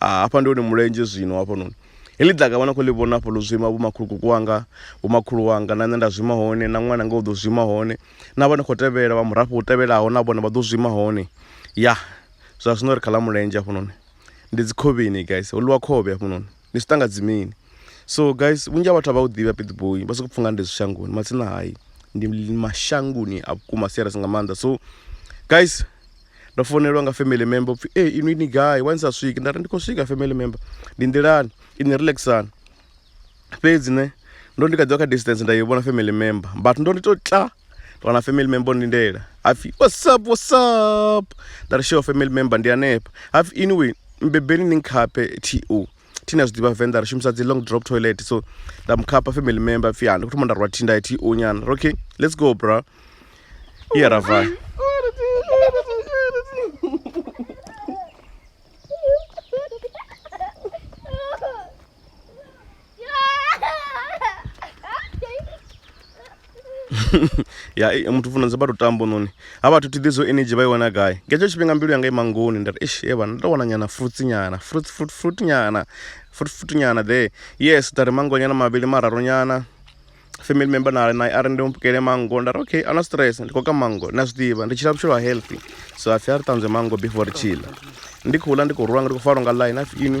Ah, hafha ndi hone mulenzhe zwino hafhanoni. Heḽi ḓaka vha na khou ḽi vhona hafha ḽo zwima vhomakhulukuku wanga, vhomakhulu wanga na nṋe nda zwima hone, na ṅwananga u ḓo zwima hone, na vha no khou tevhela vha murafho u tevhelaho na vhone vha ḓo zwima hone. Ya zwa zwino ri kha ḽa mulenzhe hafhanoni, ndi dzi khovheni guys, ho ḽiwa khovhe hafhanoni, ndi zwi ṱanga dzimini. So guys, vhunzhi ha vhathu a vha u ḓivhi ha Pietboi, vha sokou pfha nga ndi zwi shangoni, matsina hai ndi mashangoni a vhukuma serious nga maanḓa. So guys. ndo founelwa nga family member upfhi e inwi ni gai wani sa swiki nda ri ndi khou swika family member ndi nḓilani ini relaxani fhedzi ne ndo ndi kha ḓiwa kha distance nda i vhona family member but ndo ndi to tla wana family member ndi ndela hapfhi whatsapp whatsapp nda ri show family member ndi hanefha hapfhi anyway mbebeni ni nkhaphe to thina zwi ḓivha venḓa ri shumisa dzi long drop toilet so nda mu khapha family member pfhi ha ndi khou thoma nda rwa thinda ya t o nyana okay let's go bra iya ra vaya ya eh, muthu funa dza vha lutambo noni ha vhathu thi ḓizwo energy vha i wana gai nga hetsho tshifhinga mbilu yanga ima ngoni nda ri eish e vhana ndo wana nyana fruits nyana fruit fruit fruit nyana fruit fruit nyana there yes nda ri mango nyana mavhili mararu nyana family member na nae a ri ndi mpukele mango nda ri okay ana stress ndi khou ka mango na zwi ḓivha ndi tshila vhutshilo ha healthy so a pfhi a ri ṱanzwe mango before ri tshila ndi khou ḽa ndi khou rula nga ndi khou falwa nga line a pfhi ini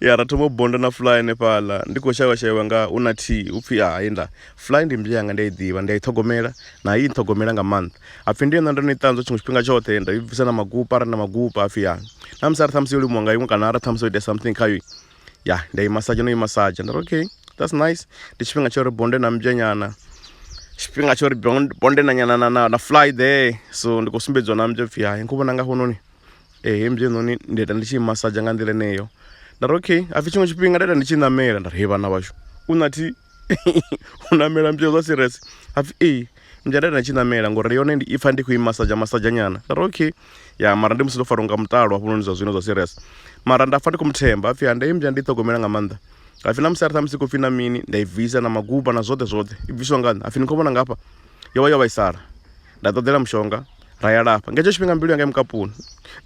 ya ra thoma u bonda na fly hanefhaḽa ndi khou shavha shavha nga u na thi u pfhi a hayi nda fly ndi mmbya yanga ndi a i ḓivha ndi a i ṱhogomela na i nṱhogomela nga maanḓa hapfi ndi yone ndo no i ṱanzwa tshiṅwe tshifhinga tshoṱhe nda i bvisa na magupa arali na magupa hapfi ya na musi a ri ṱhamusi yo limuwa nga iṅwe kana ara ṱhamusi o ita something khayo ya ndi a i masaja no i masaja nda ri okay that's nice ndi tshifhinga tsha uri bonde na mmbya nyana tshifhinga tsha uri bonde na nyana na na fly there so ndi khou sumbedziwa na mmbya pfhi hayi nkho vhona nga hafhanoni Ee hei mudzheinoni nda ita ndi tshi massage nga nḓila eneyo nda ri okay hapfhi tshiṅwe tshifhinga nda ita ndi tshi ṋamela nda ri hei vhana vhashu u nathi u ṋamela mdzhia zwa serious hapfhi ee mdzhia nda ita ndi tshi ṋamela ngori yone ndi ipfha ndi khou i massage massage nyana nda ri okay ya mara ndi musi ndo fariwa nga muṱalo hafhanoni zwa zwino zwa serious mara nda pfha ndi kho muthemba hapfhi ha ndeme mdzhia ndi i ṱhogomela nga maanḓa hapfhi na musi arali ṱhamusi khou pfhi na mini nda i bvisa na magupa na zwoṱhe zwoṱhe i bviswa nga nṋe hapfhi ni kho vhona ngafha yo vha yo vhaisala. nda ṱoḓela mushonga ra ya lafha nga hetsho tshifhinga mbilu yanga mukapuni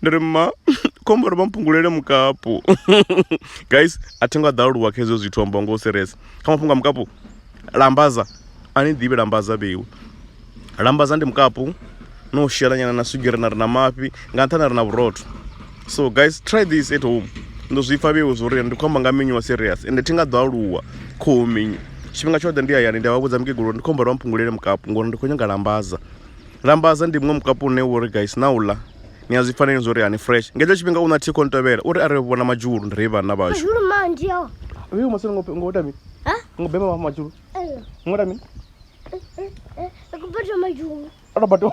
ndi ri ma khombo ri vha mpungulele mukapu guys a thi ngo a ḓaluwa kha hezwo zwithu amba ngo u serious kha mafhungo a mukapu lambaza a ni ḓivhi lambaza vheiwe lambaza ndi mukapu no u shela nyana na swigiri na ri na mafhi nga nṱhani ri na vhurotho so guys try this at home ndo zwi pfa vhewe zwo ri ndi khou amba nga minyu wa serious ende thi nga ḓo aluwa khohu minyu tshifhinga tshoṱhe ndi hayani ndi a vha vhudza mukegulu ndi khou humbela vha mphungulele mukapu ngori ndi khou nyanga lambaza lambaza ndi muṅwe mukapu une wo ri guys na u ḽa ni a zwi faneli zwo ri hani fresh nga hetsho tshifhinga u na thikho ntovhela uri a ri vhona madzhulu ndi ri vhana vhashu uyu masini ngo ngo ita mini ngo bema vha madzhulu ngo ita mini eh, eh, eh, a tou bato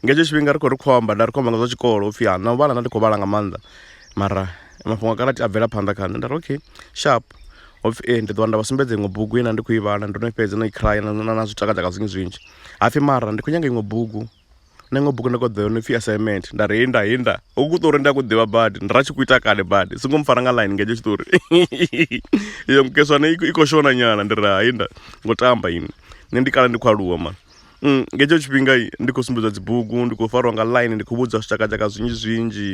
Nga hetsho tshifhinga ri khou ri khou amba nda ri khou amba nga zwa tshikolo upfhi ha na u vhala nda ndi khou vhala nga maanḓa mara mafhungo a karati a bvela phanḓa kha nṋe nda ri okay sharp hopfi ee ndi ḓowa nda vha sumbedza iṅwe bugu ine ndi khou i vhala ndo no fhedza no i cry na na zwi takadza nga zwinzhi zwinzhi hapfi mara ndi khou nyanga iṅwe bugu na iṅwe bugu ndi kho ḓo yone pfhi assignment nda ri inda inda hu ku ṱori ndi a ku ḓivha badi ndi ra tshi ku ita kale badi songo mpfara nga line nga hetsho tshiṱori iyo mukeswana i khou shona nyana ndi ri ha inda ngo tamba ini nṋe ndi kale ndi khou aluwa mani. Mm, nga hetsho tshifhinga ndi khou sumbedzwa dzibugu ndi khou fariwa nga line ndi khou vhudzwa zwitshakatshaka zwinzhi zwinzhi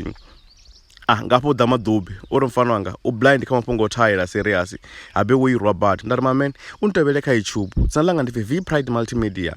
ah ngafho ḓa maḓubi o ri mfana wanga u blind kha mafhungo o thaela serious habe wo irwa bad nda ri mamen u ntevhele kha youtube dzina langa ndi pfi v pride multimedia